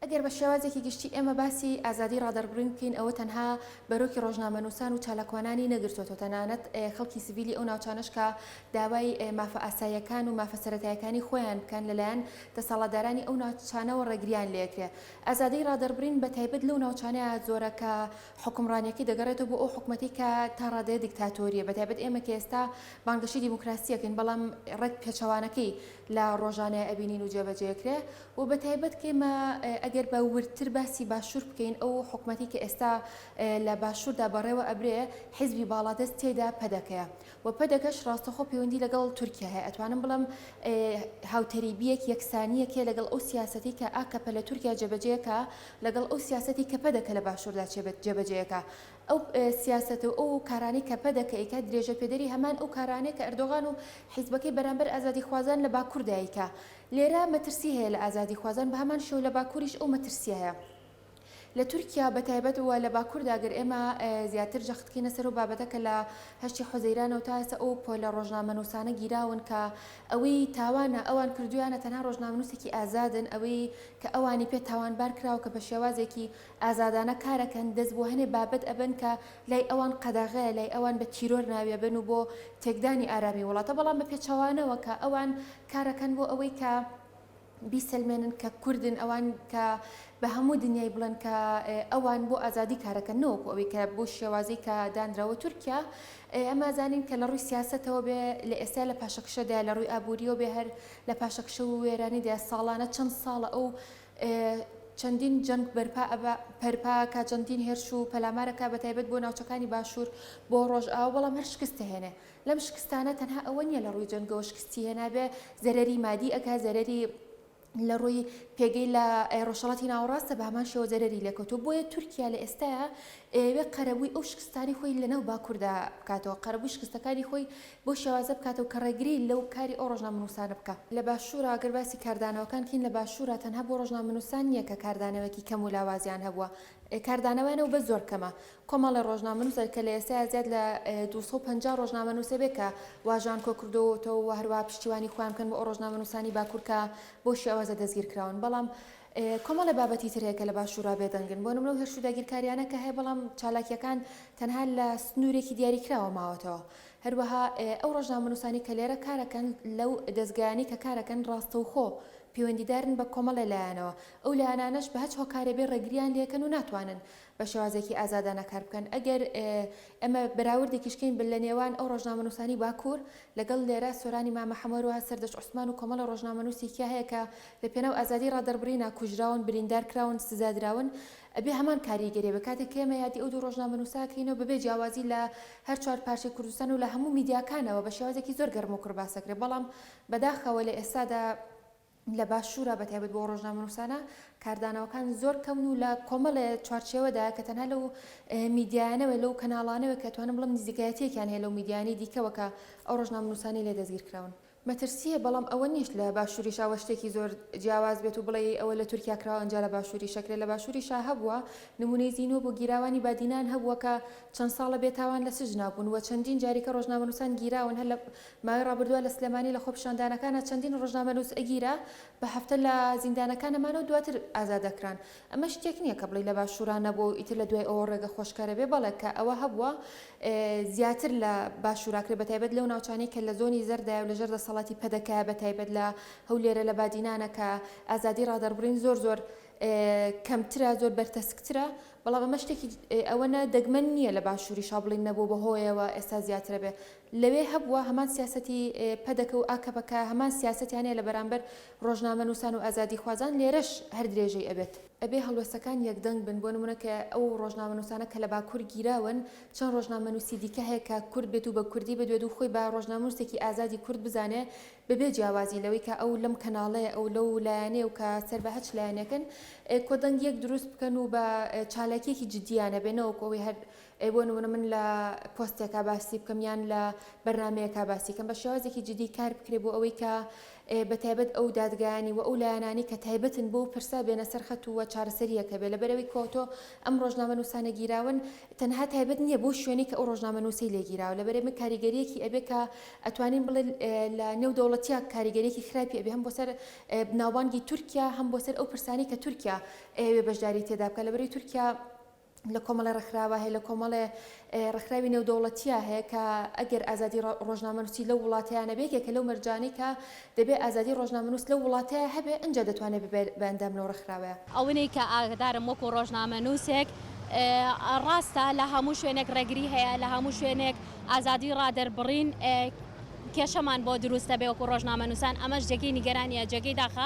ئەگەر بە شێوازێکی گشتی ئێمە باسی ئازادی ڕادەربڕین بکەین ئەوە تەنها بەرۆکی ڕۆژنامەنووسان و چالاکوانانی نەگرتۆتەوە تەنانەت خەڵکی سڤیلی ئەو ناوچانەش کە داوای مافە ئاساییەکان و مافە سەرەتایەکانی خۆیان بکەن لەلایەن دەسەاڵتدارانی ئەو ناوچانەوە ڕێگریان لێکرێ ئازادی ڕادەربڕین بە تایبەت لەو ناوچانە زۆرە کە حوکمڕانیەکەی دەگەڕێتەوە بۆ ئەو حکومەتەی کە تا ڕادەیە دیکتاتۆریە بە تایبەت ئێمە کە ئێستا بانگەشەی دیموکراسی ئەکەین بەڵام ڕێک پێچەوانەکەی لە ڕۆژانەیە ئەبینین و جێبەجێ ئەکرێ وە بەتایبەت کەیمە ئەگەر بە وردتر باسی باشور بکەین ئەو حکومەتی کە ئێستا لە باشوردا بەڕێوە ئەبرێ حیزبی باڵادەست تێیدا پەدەکەیە وە پەدەکەش ڕاستەخۆ پەیوەندی لەگەڵ تورکیا هەیە ئەتوانم بڵێم هاوتەریبیەک یەکسانیەک هەیە لەگەڵ ئەو سیاسەتی کە ئاکەپە لە تورکیا جێبەجێکا لەگەڵ ئەو سیاسەتی کە پەدەکە لە باشوردا جێبەجێکا ئەو سیاسەت و ئەو کارانەی کە پەدەکە ئەیکا درێژە پێدەری هەمان ئەو کارانەیە کە ئەردۆغان و حیزبەکەی بەرامبەر ئازادیخوازان لە باکوردا ئەیکا لێرە مەترسی هەیە لە ئازادیخوازان، بە هەمان شێوە لە باکووریش ئەو مەترسییە هەیە. لە تورکیا بە تایبەت و لە باکووردا گەر ئێمە زیاتر جەخت بکەینە سەر ئەو بابەتە کە لە هەشتی حوزەیرانەوە تا ئێستا ئەو پۆلە ڕۆژنامەنووسانە گیراون کە ئەوەی تاوانە ئەوان کردوویانە، تەنها ڕۆژنامەنووسێکی ئازادن، ئەوەی کە ئەوانی پێ تاوانبار کراوە کە بە شێوازێکی ئازادانە کار ئەکەن، دەست بۆ هەنێ بابەت ئەبەن کە لای ئەوان قەدەغەیە، لای ئەوان بە تیرۆر ناوی ئەبەن و بۆ تێکدانی ئارامیی وڵاتە، بەڵام بە پێچەوانەوە کە ئەوان کارەکەن بۆ ئەوەی کە بیسەلمێنن کە کوردن ئەوان کە بە هەموو دنیای بڵێن کە ئەوان بۆ ئازادی کارەکەن نەوەکو ئەوەی کە بۆ شێوازی کە دانراوە تورکیا ئەما زانین کە لە ڕووی سیاسەتەوە بێ لە ئێستا لە پاشەکشەدا لە ڕووی ئابووریەوە بێ هەر لە پاشەکشە و وێرانیدا ساڵانە چەند ساڵە ئەو چەندین جەنگ بەرپا ئەبا پەرپا کا چەندین هێرش و پەلامارەکە بە تایبەت بۆ ناوچەکانی باشوور بۆ ڕۆژئاوا بەڵام هەر شکست هێنێ لەم شکستانە تەنها ئەوە نیە لەڕووی جەنگەوە شکستی هێنابێ زەرەری مادی ئەکا زەرەری لەڕووی پێگەی لە ڕۆژهەڵاتی ناوەڕاستە بەهەمان شێوە زەرەری لێکەوتوە بۆیە تورکیا لە ئێستایا ئەیەوێ قەرەبووی ئەو شکستانی خۆی لەناو باکوردا بکاتەوە قەرەبووی شکستەکانی خۆی بۆ شێوازە بکاتەوە کە ڕێگری لەو کاری ئەو ڕۆژنامەنووسانە بکا لە باشوورا ئەگەر باسی کاردانەوەکان کەین لە باشوورا تەنها بۆ ڕۆژنامەنووسان نیە کە کاردانەوەیەکی کەم و لاوازیان هەبووە کاردانەوەیانە و بەس زۆر کەمە کۆمەڵێ ڕۆژنامەنووسە کە لە ئێستایا زیاد لە دوو سەد و پەنجا ڕۆژنامەنووس هەبێ کە واژۆیان کۆکردۆوەتەوە و هەروەها پشتیوانی خۆیان بکەن بۆ ئەو ڕۆژنامەنووسانی باکوور کە بەو شێوازە دەستگیر کراون بەڵام کۆمەڵێ بابەتی تر هەیە کە لە باشوورا بێدەنگن بۆ نمونە ئەو هێرش و داگیرکارییانە کە هەیە بەڵام چالاکییەکان تەنها لە سنوورێکی دیاریکراوە ماوەتەوە هەروەها ئەو ڕۆژنامەنووسانی کە لێرە کارەکەن لەو دەزگایانەی کە کارەکەن ڕاستەوخۆ پەیوەندیدارن بە کۆمەڵێ لایەنەوە ئەو لایەنانەش بە هەچ هۆکارێ بێ ڕێگرییان لێ دەکەن و ناتوانن بە شێوازێکی ئازادانە کار بکەن. ئەگەر ئێمە بەراوردێکیش کەین بە لە نێوان ئەو ڕۆژنامەنووسانی باکوور لەگەڵ لێرە، سۆرانی مامە حەمە، هەروەها سەردەشت عوسمان و کۆمەڵێ ڕۆژنامەنووسی تیا هەیە کە لە پێناو ئازادیی ڕادەڕبرینا کوژراون، بریندار کراون، سزا دراون، ئەبێ هەمان کاریگەریی بێ. کاتێک کە ئێمە یادی ئەو دوو ڕۆژنامەنووسە ئەکەینەوە بە بێ جیاوازی لە هەر چوار پارچەی کوردستان و لە هەموو میدیاکانەوە بە شێوازێکی زۆر گەرموکوڕ باس ئەکرێ، بەڵام بەداخەوە لە ئێستادا، لە باشوورا بە تایبەت بۆ ڕۆژنامەنووسانە کاردانەوەکان زۆر کەمن و لە کۆمەڵێ چوارچێوەدایە کە تەنها لەو میدیایانەوە لەو کەناڵانەوە کە توانم بڵم نزیکایەتیەکیان هەیە لەو میدیانی دیکەوە کە ئەو ڕۆژنامەنووسانەی لێ دەستگیر کراون. مەترسییە بەڵام ئەوە نیش لە باشووریشا وە شتێکی زۆر جیاواز بێت و بڵێی ئەوە لە تورکیا کراوە ئەنجا لە باشووری شەکرێ لە باشووری شا هەبووە نموونەی زینوە بوو گیراوانی بادینان هەبووە کە چەند ساڵە بێ تاوان لە سجنا بوون وە چەندین جاریکە ڕۆژنامەنووسان گیراون هەر لە ماوەی ڕابردووە لە سلێمانی لە خۆپیشاندانەکانا چەندین ڕۆژنامەنووس ئەگیرا بە هەفتە لە زیندانەکان نەمانە و دواتر ئازاد دەکران ئەمە شتێک نیە کە بڵێی لە باشوورا نەبووە و ئیتر لە دوای ئەوە ڕێگە خۆشکەرە بێ بەڵێ کە ئەوە هەبووە زیاتر لە باشوورا کرێ بە تایبەت لەو ناوچانەی کە لە زۆنی زەردایە و لە ژێر دەسەڵاتی پەدەکەیە بە تایبەت لە هەولێرە لە بادینانە کە ئازادی ڕادەربڕین زۆر زۆر کەمترە زۆر بەرتەسکترە بەڵام ئەمە شتێکی ئەوەنە دەگمەن نیە لە باشووریشا بڵێین نەبووە بە هۆیەوە ئێستا زیاترە بێ لەوێ هەبووە، هەمان سیاسەتی پەدەکە و ئاکەپەکە هەمان سیاسەتیانەیە لە بەرامبەر ڕۆژنامەنووسان و ئازادیخوازان، لێرەش هەر درێژەی ئەبێت. ئەبێ هەڵوێستەکان یەکدەنگ بن، بۆ نموونە کە ئەو ڕۆژنامەنووسانە کە لە باکوور گیراون، چەند ڕۆژنامەنووسی دیکە هەیە کە کورد بێت و بە کوردی بدوێت و خۆی بە ڕۆژنامەنووسێکی ئازادی کورد بزانێ، بەبێ جیاوازی لەوەی کە ئەو لەم کەناڵەیە ئەو لەو لایەنەیە و کە سەر بە هەچ لایەنێکن، کۆدەنگییەک دروست بکەن و بە چالاکییەکی جدییانە بێ، نەوەکو ئەوەی هەر ئەی بۆ نمونە من لە پۆستێکا باسی بکەم یان لە بەرنامەیەکا باسی کەم بە شێوازێکی جدی کار بکرێ بۆ ئەوەی کە بە تایبەت ئەو دادگایانی و ئەو لایەنانی کە تایبەتن بۆ پرسە بێنە سەر خەت و چارەسەریەکە بێ لەبەرەوەی کۆتۆ ئەم ڕۆژنامە نووسانە گیراون تەنها تایبەت نییە بۆ شوێنی کە ئەو ڕۆژنامە نووسی لێگیراوە لەبەرێ من کاریگەریەکی ئەبێ کە ئەتوانین بڵێ لە نێو دەوڵەتیا کاریگەریەکی خراپی ئەبێ هەم بۆ سەر ناوبانگی تورکیا هەم بۆ سەر ئەو پرسانی کە تورکیا ئەوێ بەشداری تێدا بکە لەبەری تورکیا لە کۆمەڵێ ڕێکخراوە هەیە لە کۆمەڵێ ڕێکخراوی نێودەوڵەتیا هەیە کە ئەگەر ئازادی ڕۆژنامەنووسی لە وڵاتیانە بێت یەکە لەو مەرجانەی کە دەبێ ئازادی ڕۆژنامەنووس لە وڵاتەیە هەبێ ئەجا دەتوانێت ببێت بە ئەندام لەو ڕێکخراوەیە. ئەوەی کە ئاگدارم وەکو ڕۆژنامەنووسێک ڕاستە لە هەموو شوێنێک ڕێگری هەیە لە هەموو شوێنێک ئازادی ڕادەربڕین کێشەمان بۆ دروست دەبێ وەکو ڕۆژنامەنووسان ئەمەش جێگەی نیگەرانییە جێگەی داخە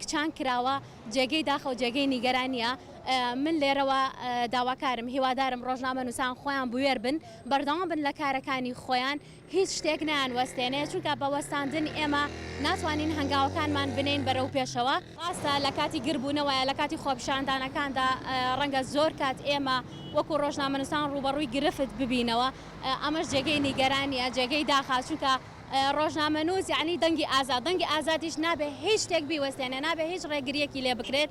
کچان کراوە جێگەی داخەو جێگەی نیگەرانیە من لێرەوە داواکارم هیوادارم ڕۆژنامە نووسان خۆیان بوێر بن بەردەوام بن لە کارەکانی خۆیان هیچ شتێک نیان وەستێنێ چونکە بە وەستاندن ئێمە ناتوانین هەنگاوەکانمان بنین بەرەو پێشەوە ڕاستە لە کاتی گربوونەوەە لە کاتی خۆپشاندانەکاندا ڕەنگە زۆر کات ئێمە وەکو ڕۆژنامەنووسان ڕوبەڕووی گرفت ببینەوە ئەمەش جێگەی نیگەرانیە جێگەی داخە چونکە ڕۆژنامەنووس یەعنی دەنگی ئازاد، دەنگی ئازادیش نابێ هیچ شتێک بیوەستێنێ، نابێ هیچ ڕێگرییەکی لێ بکرێت.